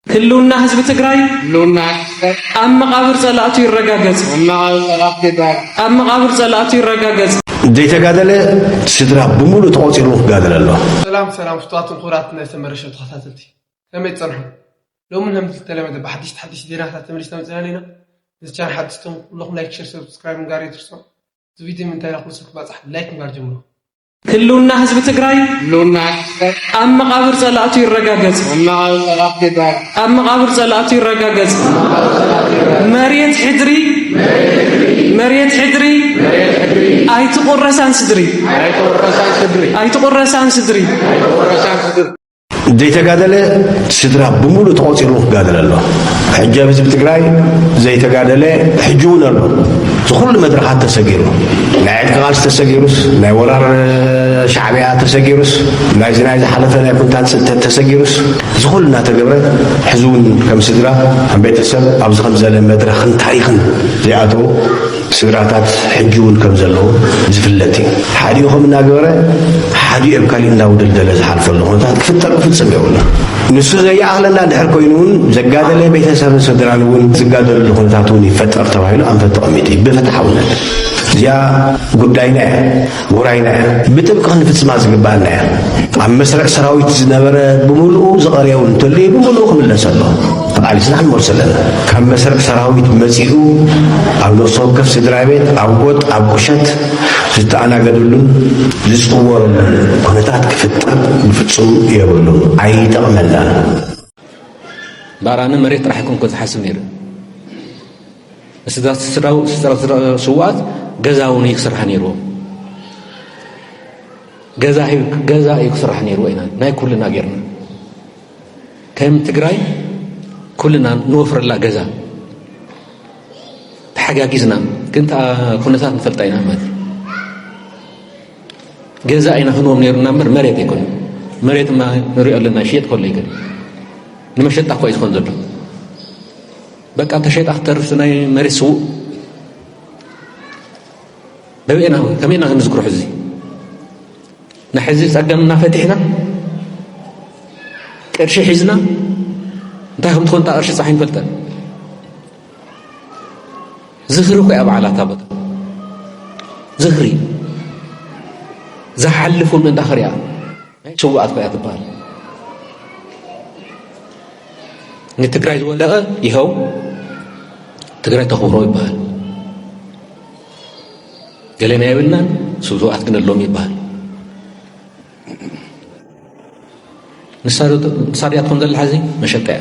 ህልውና ህዝቢ ትግራይ ህልውና ህዝቢ ትግራይ ኣብ መቓብር ፀላእቱ ይረጋገፅ ኣብ መቓብር ፀላእቱ ይረጋገፅ ኣብ መቓብር ፀላእቱ ይረጋገፅ ዘይተጋደለ ስድራ ብምሉእ ተቖፂሩ ክጋደል ኣሎ። ሰላም ሰላም ፍትዋትን ክቡራት ናይ ሰመረ ሸው ተኸታተልቲ ከመይ ትጸንሑ ሎሚ ከምቲ ዝተለመደ ብሓድሽቲ ሓድሽቲ ዜናታት ተመሊስና መጺና ኣለና ነዚ ቻናል ሓድሽ ትኹም ኩለኹም ላይክ ሸር ሰብስክራይብ ምግባር ኣይትርሱ እዚ ቪድዮ ንምንታይ ናብ ኩሉ ሰብ ክባጻሕ ላይክ ምግባር ጀምሩ ህልውና ህዝቢ ትግራይ ኣብ መቓብር ጸላእቱ ይረጋገጽ! ኣብ መቓብር ጸላእቱ ይረጋገጽ! መሬት ሕድሪ መሬት ሕድሪ ኣይትቑረሳን ስድሪ ኣይትቑረሳን ስድሪ ዘይተጋደለ ስድራ ብምሉእ ተቖፂሩ ክጋደለ ኣሎ ሕጂ ኣብ ህዝቢ ትግራይ ዘይተጋደለ ሕጂ እውን ኣሎ ዝኩሉ መድረኻት ተሰጊሩ ናይ ዕጥቂ ቃልሲ ተሰጊሩስ ናይ ወራር ሻዕብያ ተሰጊሩስ ናይዚ ናይ ዝሓለፈ ናይ ኩንታት ፅንተት ተሰጊሩስ ዝኩሉ እናተገብረ ሕዚ እውን ከም ስድራ ከም ቤተሰብ ኣብዚ ከምዘለ መድረኽን ታሪኽን ዘይኣተው ስድራታት ሕጂ ውን ከም ዘለዉ ዝፍለጥ እዩ። ሓዲኡ ከም እናገበረ ሓዲኡ ኣብ ካሊእ እንዳውደልደለ ዝሓልፈሉ ኩነታት ክፍጠር ብፍጽም የብሉን። ንሱ ዘይኣኽለና ድሕር ኮይኑ ውን ዘጋደለ ቤተሰብን ስድራን ውን ዝጋደልሉ ኩነታት ውን ይፈጠር ተባሂሉ ኣንፈት ተቐሚጡ እዩ ብፍትሓውነት። እዚኣ ጉዳይና እያ። ውራይና እያ ብጥብቂ ክንፍጽማ ዝግባኣና እያ ኣብ መስርዕ ሰራዊት ዝነበረ ብምሉኡ ዝቐርየው እንተልዩ ብምሉኡ ክምለሰ ኣሎ ተቓሊስና ክንመልሶ ኣለና ካብ መስርዕ ሰራዊት መጺኡ ኣብ ነፍሲ ወከፍ ስድራ ቤት ኣብ ጎጥ ኣብ ቁሸት ዝተኣናገደሉን ዝጽወረሉን ኩነታት ክፍጠር ብፍጹም የብሉን ኣይጠቕመናን ባራነ መሬት ጥራሕ ኮንኮ ዝሓስብ ነይሩ ንስድራ ስውኣት ገዛ እውን እዩ ክስራሕ ነይርዎ ገዛ እዩ ክስራሕ ነይርዎ ኢና ናይ ኩልና ጌርና ከም ትግራይ ኩልና ንወፍረላ ገዛ ተሓጋጊዝና ግን ኩነታት ንፈልጣ ኢና ማለት ገዛ ኢና ክንዎም ነይሩና እምበር መሬት ኣይኮነ መሬት ማ ንሪኦ ኣለና ሽየጥ ከሎ ይገ ንመሸጣ እኳ እዩ ዝኾን ዘሎ በቃ ተሸይጣ ክትተርፍ ናይ መሬት ስውእ በበኤና ከመይ ኢና ክንዝክሮ ሕዚ ናይ ሕዚ ፀገም እናፈቲሕና ቅርሺ ሒዝና እንታይ ከም ትኾን እታ ቅርሺ ፀሓይ ንፈልጠን ዝኽሪ እኮ እያ በዓላታ ቦታ ዝኽሪ ዝሓልፉ ምእንታ ክሪኣ ናይ ስውኣት ኮያ ትበሃል ንትግራይ ዝወደቐ ይኸው ትግራይ ተኽብሮ ይበሃል ገለና የብልናን ስውኣት ግን ኣሎም ይበሃል ንሳ ድያ ትኾን ዘላ ሕዚ መሸጣ እያ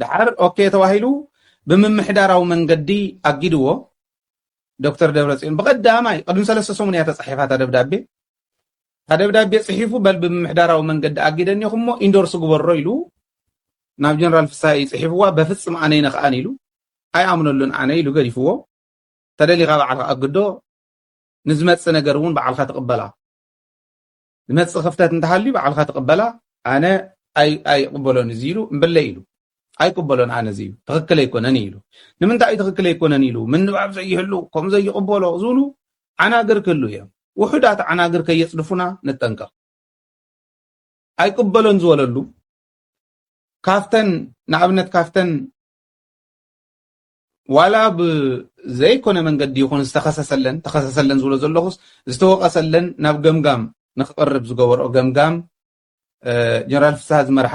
ደሓር ኦኬ ተባሂሉ ብምምሕዳራዊ መንገዲ ኣጊድዎ ዶክተር ደብረፅዮን ብቀዳማይ ቅድሚ ሰለስተ ሰሙን እያ ተፃሒፋ እታ ደብዳቤ እታ ደብዳቤ ፅሒፉ በል ብምምሕዳራዊ መንገዲ ኣጊደኒ እሞ ኢንዶርስ ግበሮ ኢሉ ናብ ጀነራል ፍስሃ እዩ ፅሒፍዋ በፍፅም ኣነ ይነኽኣን ኢሉ ኣይኣምነሉን ኣነ ኢሉ ገዲፍዎ ተደሊኻ በዓልካ ኣግዶ ንዝመፅእ ነገር እውን በዓልካ ትቕበላ ዝመጽእ ክፍተት እንተሃልዩ ባዕልካ ትቅበላ ኣነ ኣይቅበሎን እዚ ኢሉ እምበለይ ኢሉ ኣይቅበሎን ኣነ እዚ ትክክል ኣይኮነን ኢሉ ንምንታይ ትክክል ኣይኮነን ኢሉ ምንባብ ዘይህሉ ከም ዘይቅበሎ ዝብሉ ዓናግር ክህሉ እዮም ውሑዳት ዓናግር ከየጽድፉና ንጠንቀቕ ኣይቅበሎን ዝበለሉ ካፍተን ንኣብነት ካፍተን ዋላ ብዘይኮነ መንገዲ ይኹን ዝተኸሰሰለን ተኸሰሰለን ዝብሎ ዘለኹስ ዝተወቐሰለን ናብ ገምጋም ንክቕርብ ዝገበርኦ ገምጋም ጀነራል ፍስሃ ዝመርሓ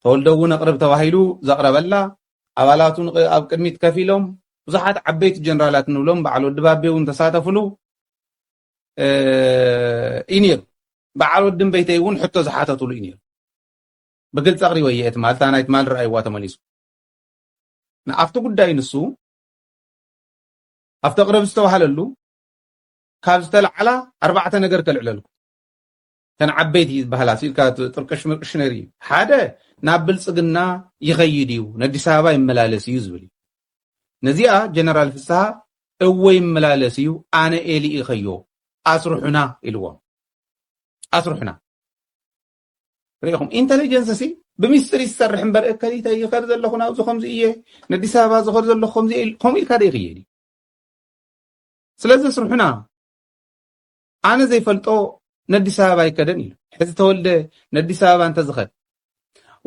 ተወልደ እውን ኣቕርብ ተባሂሉ ዘቕረበላ ኣባላቱ ኣብ ቅድሚት ከፍ ኢሎም ብዙሓት ዓበይቲ ጀነራላት ንብሎም በዓል ወዲ ባቤ እውን ተሳተፍሉ እዩ ነይሩ በዓል ወዲ እምበይተይ እውን ሕቶ ዝሓተትሉ እዩ ነይሩ ብግልፂ ኣቕሪበ እየ ትማል እታ ናይ ትማል ረኣይዋ ተመሊሱ ንኣብቲ ጉዳይ ንሱ ኣብቲ ቅረብ ዝተባህለሉ ካብ ዝተለዓላ ኣርባዕተ ነገር ከልዕለልኩ ተን ዓበይቲ ዝበሃላ ሲልካ ጥርቅሽ ምርቅሽ ነር እዩ ሓደ ናብ ብልፅግና ይኸይድ እዩ ነዲስ ኣበባ ይመላለስ እዩ ዝብል እዩ ነዚኣ ጀነራል ፍስሃ እወ ይመላለስ እዩ ኣነ ኤሊ ኢኸዮ ኣስርሑና ኢልዎም ኣስርሑና ርኢኹም ኢንተሊጀንስ ሲ ብምስጢር ይሰርሕ እምበር እከሊተ ይኸድ ዘለኹ ናብዚ ከምዚ እየ ነዲስ ኣበባ ዝኸድ ዘለኹ ከምዚ ከምኡ ኢልካ ዶ ይኽየድ እዩ ስለዚ ስርሑና ኣነ ዘይፈልጦ ነዲስ ኣበባ ይከደን ኢሉ ሕዚ ተወልደ ነዲስ ኣበባ እንተዝኸድ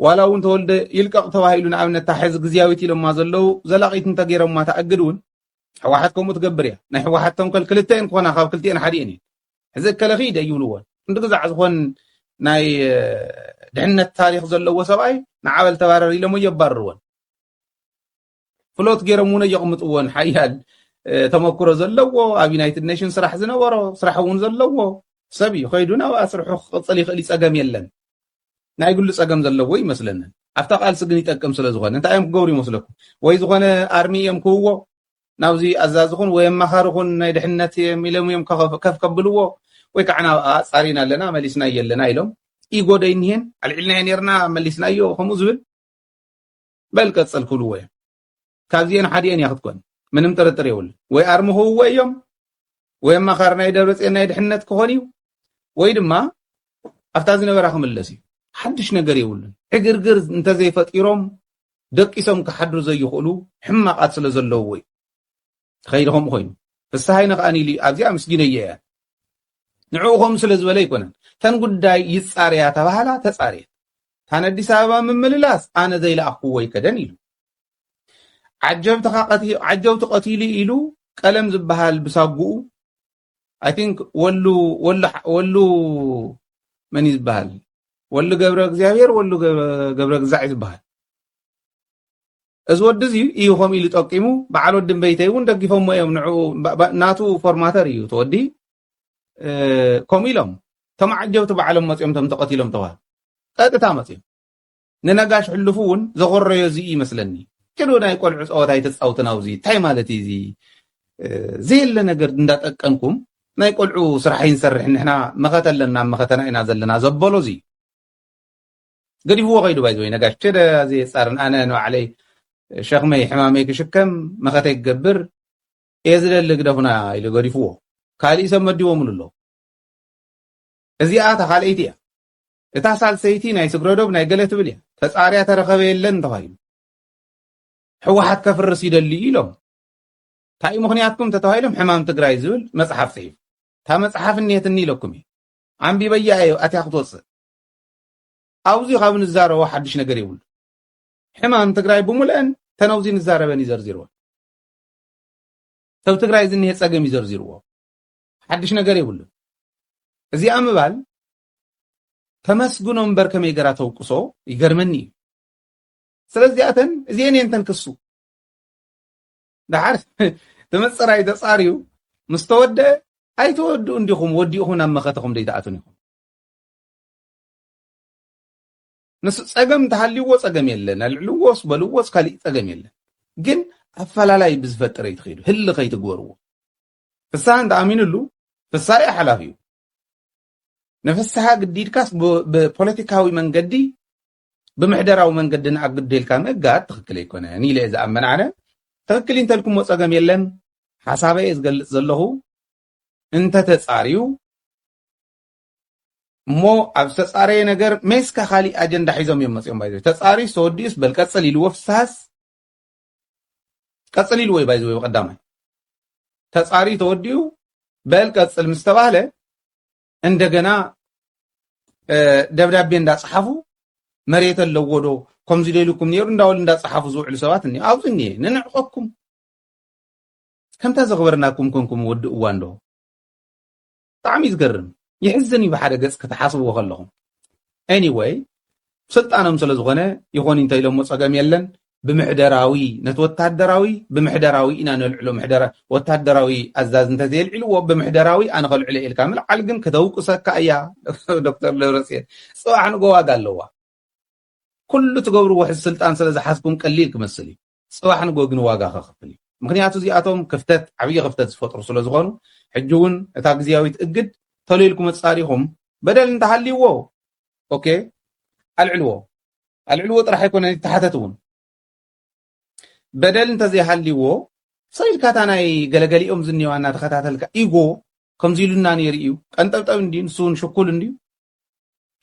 ዋላ እውን ተወልደ ይልቀቕ ተባሂሉ ንኣብነት እታ ሕዚ ግዝያዊት ኢሎማ ዘለዉ ዘላቒት እንተገይሮማ ተኣግድ እውን ሕወሓት ከምኡ ትገብር እያ ናይ ሕወሓት ተንኮል ክልተ እየን ክኾና ካብ ክልቲኤን ሓዲኤን እየን ሕዚ እከለኺ ደይብልዎን ክንዲ ግዛዕ ዝኾን ናይ ድሕነት ታሪኽ ዘለዎ ሰብኣይ ንዓበል ተባረር ኢሎም የባርርዎን ፍሎት ገይሮም እውን የቕምጥዎን ሓያል ተመክሮ ዘለዎ ኣብ ዩናይትድ ኔሽን ስራሕ ዝነበሮ ስራሕ እውን ዘለዎ ሰብ እዩ ከይዱ ናብኣ ስርሑ ክቕፅል ይኽእል ይፀገም የለን ናይ ግሉ ፀገም ዘለዎ ይመስለንን ኣብታ ቃልሲ ግን ይጠቅም ስለ ዝኾነ እንታይ እዮም ክገብሩ ይመስለኩም ወይ ዝኾነ ኣርሚ እዮም ክውዎ ናብዚ ኣዛዚ ኩን ወይ ኣማኻሪ ኩን ናይ ድሕነት እየም ኢሎም እዮም ከፍ ከብልዎ ወይ ከዓ ናብ ኣፃሪና ኣለና መሊስናዮ ኣለና ኢሎም ኢጎ ዶ ይኒሄን ኣልዒልናዮ ነርና መሊስናዮ ከምኡ ዝብል በል ቀፅል ክብልዎ እዮም ካብዚኤን ሓዲኤን እያ ክትኮን ምንም ጥርጥር የብሉ ወይ ኣርሚ ክህብዎ እዮም ወይ ኣማኻሪ ናይ ደብረፅዮን ናይ ድሕነት ክኾን እዩ ወይ ድማ ኣብታ ዝነበራ ክምለስ እዩ ሓድሽ ነገር የብሉን ዕግርግር እንተዘይፈጢሮም ደቂሶም ክሓድሩ ዘይኽእሉ ሕማቓት ስለ ዘለዉዎ እዩ ተኸይደ ከምኡ ኮይኑ ፍስሃይነ ከኣ ኢሉ ኣብዚ ኣምስጊነዮ እያ ንዕኡ ከምኡ ስለ ዝበለ ኣይኮነን ተን ጉዳይ ይጻርያ ተባህላ ተጻርየት ታን ኣዲስ ኣበባ ምምልላስ ኣነ ዘይለኣኽኩዎ ይከደን ኢሉ ዓጀብቲ ቀቲሉ ኢሉ ቀለም ዝበሃል ብሳጉኡ ኣይ ቲንክ ወሉ ወሉ ወሉ መን እዩ ዝበሃል ወሉ ገብረ እግዚኣብሔር ወሉ ገብረ ግዛዕ እዩ ዝበሃል እዚ ወዲ እዚ እዩ ከምኡ ኢሉ ጠቂሙ በዓል ወዲ እምበይተይ እውን ደጊፎሞ እዮም ንዕኡ ናቱ ፎርማተር እዩ ተወዲ ከምኡ ኢሎም ተመዓጀብቲ ባዕሎም መፅኦም ቶም ተቐቲሎም ተባሃሉ ቀጥታ መፅኦም ንነጋሽ ሕሉፉ እውን ዘኾረዮ እዚ'ዩ ይመስለኒ። ኪዱ ናይ ቆልዑ ጸወታ ኣይተጻውትን ኣውዚ እንታይ ማለት ኢዩ እዚ ዘየለ ነገር እንዳ ጠቀንኩም ናይ ቆልዑ ስራሕ ኣይንሰርሕን ንሕና መኸተ ኣለና ኣብ መኸተና ኢና ዘለና ዘበሎ እዚ ገዲፍዎ ከይዱ ባይ ዝወይ ነጋሽ ቸደ ዘየጻርን ኣነ ንባዕለይ ሸክመይ ሕማመይ ክሽከም መኸተይ ክገብር እየ ዝደሊ ግደፉና ኢሉ ገዲፍዎ ካሊእ ሰብ መዲቦምሉ ኣሎ እዚኣ እታ ካልኣይቲ እያ እታ ሳልሰይቲ ናይ ስግረዶብ ናይ ገለ ትብል እያ ተጻርያ ተረኸበ የለን እንተባሂሉ ሕወሓት ከፍርስ ይደሊ እዩ ኢሎም እንታይ እዩ ምክንያትኩም ተተባሂሎም ሕማም ትግራይ ዝብል መፅሓፍ ፅሒፉ እታ መፅሓፍ እኒሄትኒ ኢለኩም እዩ ኣንቢበያ እየ ኣትያ ክትወፅእ ኣብዚ ካብ ንዛረቦ ሓድሽ ነገር የብሉ ሕማም ትግራይ ብሙልአን ተነውዚ ንዛረበን ይዘርዚርዎ ሰብ ትግራይ ዝኒሄ ፀገም ይዘርዚርዎ ሓድሽ ነገር የብሉ እዚኣ ምባል ተመስግኖ እምበር ከመይ ገራ ተውቅሶ ይገርመኒ እዩ ስለዚኣተን እዚኤን እየን ተንክሱ ደሓር ተመፀራይ ተፃርዩ ምስ ተወደአ ኣይተወድኡ እንዲኹም ወዲእኹም ናብ መኸተኹም ደይትኣቱን ኢኹም ንሱ ፀገም እንተሃልዩዎ ፀገም የለን ኣልዕልዎስ በልዎስ ካሊእ ፀገም የለን ግን ኣፈላላይ ብዝፈጥር ኣይትኸይዱ ህሊ ከይትግበርዎ ፍስሃ እንተኣሚኑሉ ፍስሃ እዩ ሓላፊ እዩ ንፍስሃ ግዲድካስ ብፖለቲካዊ መንገዲ ብምሕደራዊ መንገዲ ንኣግዶ ኢልካ ምእጋድ ትኽክል ኣይኮነን ኢለ እየ ዝኣመን ኣነ ትኽክል እዩ እንተልኩሞ ፀገም የለን ሓሳበ እየ ዝገልፅ ዘለኹ እንተተፃርዩ እሞ ኣብ ዝተፃረየ ነገር ሜስካ ካሊእ ኣጀንዳ ሒዞም እዮም መፅኦም ባይዘ ተፃርዩስ ተወዲኡስ በል ቀፅል ኢልዎ ፍስሃስ ቀፅል ኢልዎ እዩ ባይ ዝወይ ቀዳማይ ተፃርዩ ተወዲኡ በል ቀፅል ምስ ተባህለ እንደገና ደብዳቤ እንዳፀሓፉ መሬት ኣለዎ ዶ ከምዚ ደልኩም ነይሩ እንዳበሉ እንዳፀሓፉ ዝውዕሉ ሰባት እኒ ኣብዚ እኒሄ ንንዕቐኩም ከምታ ዘኽበርናኩም ኮንኩም ወዲ እዋን ዶ ብጣዕሚ እዩ ዝገርም ይሕዝን እዩ ብሓደ ገፅ ክትሓስብዎ ከለኹም anyway ስልጣኖም ስለ ዝኾነ ይኾን እንተኢሎሞ ፀገም የለን ብምሕደራዊ ነቲ ወታደራዊ ብምሕደራዊ ኢና ነልዕሎ ምሕደራ ወታደራዊ ኣዛዝ እንተዘየልዒልዎ ብምሕደራዊ ኣነ ከልዕሎ ኢልካ ምልዓል ግን ከተውቅሰካ እያ ዶክተር ደብረፅዮን ፅባሕ ንጎ ዋጋ ኣለዋ ኩሉ ትገብርዎ ሕዚ ስልጣን ስለ ዝሓዝኩም ቀሊል ክመስል እዩ ጽባሕ ንግሆ ግን ዋጋ ከኽፍል እዩ። ምኽንያቱ እዚኣቶም ክፍተት ዓብዪ ክፍተት ዝፈጥሩ ስለ ዝኾኑ ሕጂ እውን እታ ግዝያዊት እግድ ተሎ ኢልኩም ኣጻሪኹም በደል እንተሃልይዎ ኦኬ ኣልዕልዎ ኣልዕልዎ ጥራሕ ኣይኮነን ይተሓተት እውን በደል እንተዘይሃልይዎ ሰብ ኢልካ እታ ናይ ገለገሊኦም ዝኒዋ እናተኸታተልካ ኢጎ ከምዚ ኢሉና ነይሩ እዩ ቀንጠብጠብ እንዲ ንሱ እውን ሽኩል እንድዩ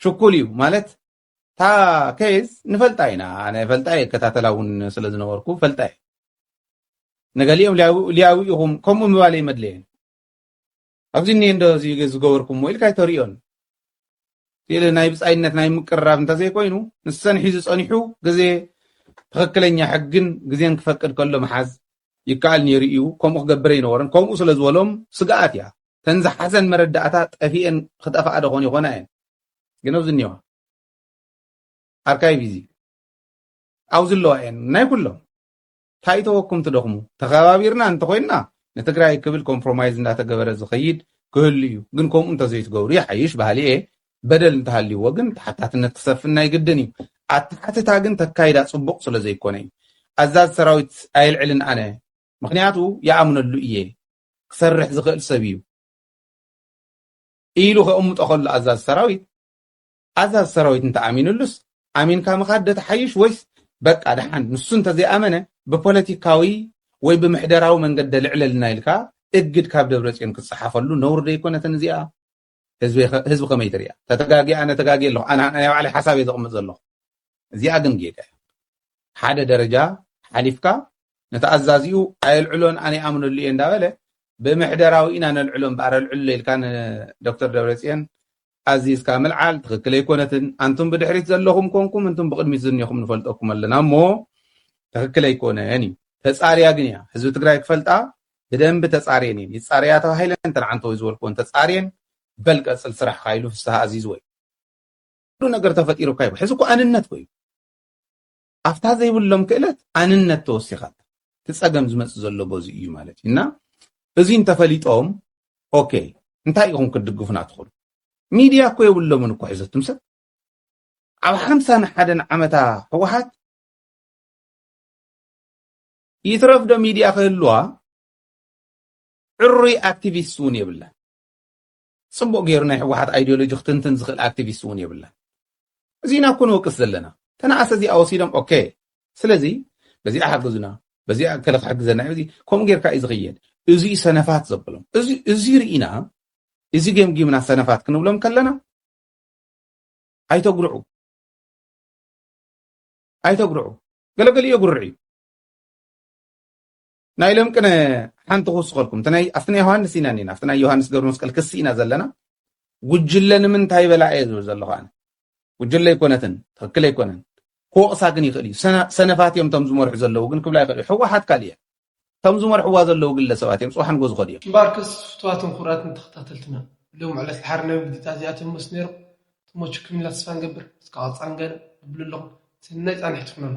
ሽኩል እዩ ማለት እታ ኬዝ ንፈልጣ ኢና ኣነ እፈልጣ እየ እከታተላ እውን ስለ ዝነበርኩ እፈልጣ እየ ንገሊኦም ልያዊ ኢኹም ከምኡ ምባለ ይመድለየን ኣብዚ እኒኤ እንዶ እዚ ዝገበርኩምዎ ኢልካ ኣይተርእዮን ስእሊ ናይ ብፃይነት ናይ ምቅርራብ እንተዘይኮይኑ ንሰን ሒዙ ፀኒሑ ግዜ ትኽክለኛ ሕግን ግዜን ክፈቅድ ከሎ ምሓዝ ይከኣል ነይሩ እዩ ከምኡ ክገብር ኣይነበረን ከምኡ ስለ ዝበሎም ስግኣት እያ ተን ዝሓዘን መረዳእታ ጠፊኤን ክጠፍኣ ደኾን ይኾና እየን ግን ኣብዚ እኒዋ ኣርካይቭ እዚ ኣብዚ ኣለዋ እየን ናይ ኩሎም እንታይ ተወኩም ትደኽሙ ተኸባቢርና እንተኮይንና ንትግራይ ክብል ኮምፕሮማይዝ እንዳተገበረ ዝኸይድ ክህሉ እዩ ግን ከምኡ እንተዘይትገብሩ ይሓይሽ ባህሊ እየ በደል እንተሃልይዎ ግን ተሓታትነት ክሰፍን ናይ ግድን እዩ ኣተሓትታ ግን ተካይዳ ፅቡቕ ስለ ዘይኮነ እዩ ኣዛዝ ሰራዊት ኣየልዕልን ኣነ ምክንያቱ ይኣምነሉ እየ ክሰርሕ ዝኽእል ሰብ እዩ ኢሉ ከቕምጦ ከሎ ኣዛዚ ሰራዊት ኣዛዚ ሰራዊት እንተኣሚንሉስ ኣሚንካ ምኻድ ዶ ትሓይሽ ወይስ በቃ ደሓን ንሱ እንተዘይኣመነ ብፖለቲካዊ ወይ ብምሕደራዊ መንገዲ ኣልዕለልና ኢልካ እግድ ካብ ደብረጽዮን ክትጸሓፈሉ ነውሪ ደይኮነትን እዚኣ ህዝቢ ከመይ ትሪኣ ተተጋጊ ኣነ ተጋጊ ኣለኹ ኣነ ናይ ባዕለይ ሓሳብ እየ ዘቕምጥ ዘለኹ እዚኣ ግን ጌጋ እያ ሓደ ደረጃ ሓሊፍካ ነቲ ኣዛዚኡ ኣየልዕሎን ኣነ ይኣምነሉ እየ እንዳበለ ብምሕደራዊ ኢና ነልዕሎ እምበኣር ኣልዕሎ ኢልካ ንዶክተር ደብረፅዮን ኣዚዝካ ምልዓል ትኽክል ኣይኮነትን ኣንቱም ብድሕሪት ዘለኹም ኮንኩም እንቱም ብቕድሚት ዝኒኹም ንፈልጠኩም ኣለና እሞ ትኽክል ኣይኮነን እዩ ተፃርያ ግን እያ ህዝቢ ትግራይ ክፈልጣ ብደንቢ ተፃርየን እየን ይፃረያ ተባሂለን ተንዓንተወይ ዝበልክዎን ተፃርየን በል ቀፅል ስራሕካ ኢሉ ፍስሃ ኣዚዝወይ ኩሉ ነገር ተፈጢሩካ ይብል ሕዚ እኮ ኣንነት ኮዩ ኣብታ ዘይብሎም ክእለት ኣንነት ተወሲኻ እቲ ፀገም ዝመፅእ ዘሎ በዚ እዩ ማለት እዩ እና እዚ እንተፈሊጦም ኦኬ እንታይ ኢኹም ክትድግፉና ትኽእሉ ሚድያ እኮ የብሎምን እኮ ሕዘትም ሰብ ኣብ ሓምሳን ሓደን ዓመታ ህወሓት ይትረፍ ዶ ሚድያ ክህልዋ ዕሩይ ኣክቲቪስት እውን የብላን ጽቡቕ ጌሩ ናይ ሕወሓት ኣይድዮሎጂ ክትንትን ዝኽእል ኣክቲቪስት እውን የብላን። እዚ ኢና እኮ ንወቅስ ዘለና። ተነኣሰ እዚኣ ወሲዶም ኦኬ ስለዚ በዚኣ ሓግዙና በዚኣ እከለ ክሕግዘና እዩ እዚ ከምኡ ጌርካ እዩ ዝኽየድ እዚዩ ሰነፋት ዘብሎም እዚ ርኢና እዚ ገምጊምና ሰነፋት ክንብሎም ከለና ኣይተጉርዑ ኣይተጉርዑ ገለገሊኡ የጉርዕ እዩ ናይ ሎም ቅነ ሓንቲ ክውስኸልኩም እቲ ናይ ኣብቲ ናይ ዮሃንስ ኢና እኒና ኣብቲ ናይ ዮሃንስ ገብረ መስቀል ክሲ ኢና ዘለና ጉጅለ ንምንታይ በላ እየ ዝብል ዘለኹ ኣነ ጉጅለ ኣይኮነትን ትክክል ኣይኮነን ክወቕሳ ግን ይኽእል እዩ ሰነፋት እዮም እቶም ዝመርሑ ዘለዉ ግን ክብላ ይኽእል እዩ ሕወሓት ካልእ እየ እቶም ዝመርሕዋ ዘለዉ ግለሰባት እዮም ፅባሕ ንጎ ዝኸዱ እዮም እምበኣርከስ ፍትዋትን ክቡራትን ተኸታተልትና ሎም ዕለት ድሓር ናይ ውዲታ እዚኣቶም መስ ነይሮም ተመቹ ክምላ ተስፋ ንገብር እስከ ቀፃሊ ገለ ንብሉ ኣለኹም ሰናይ ፃንሒት ይኹነልኩም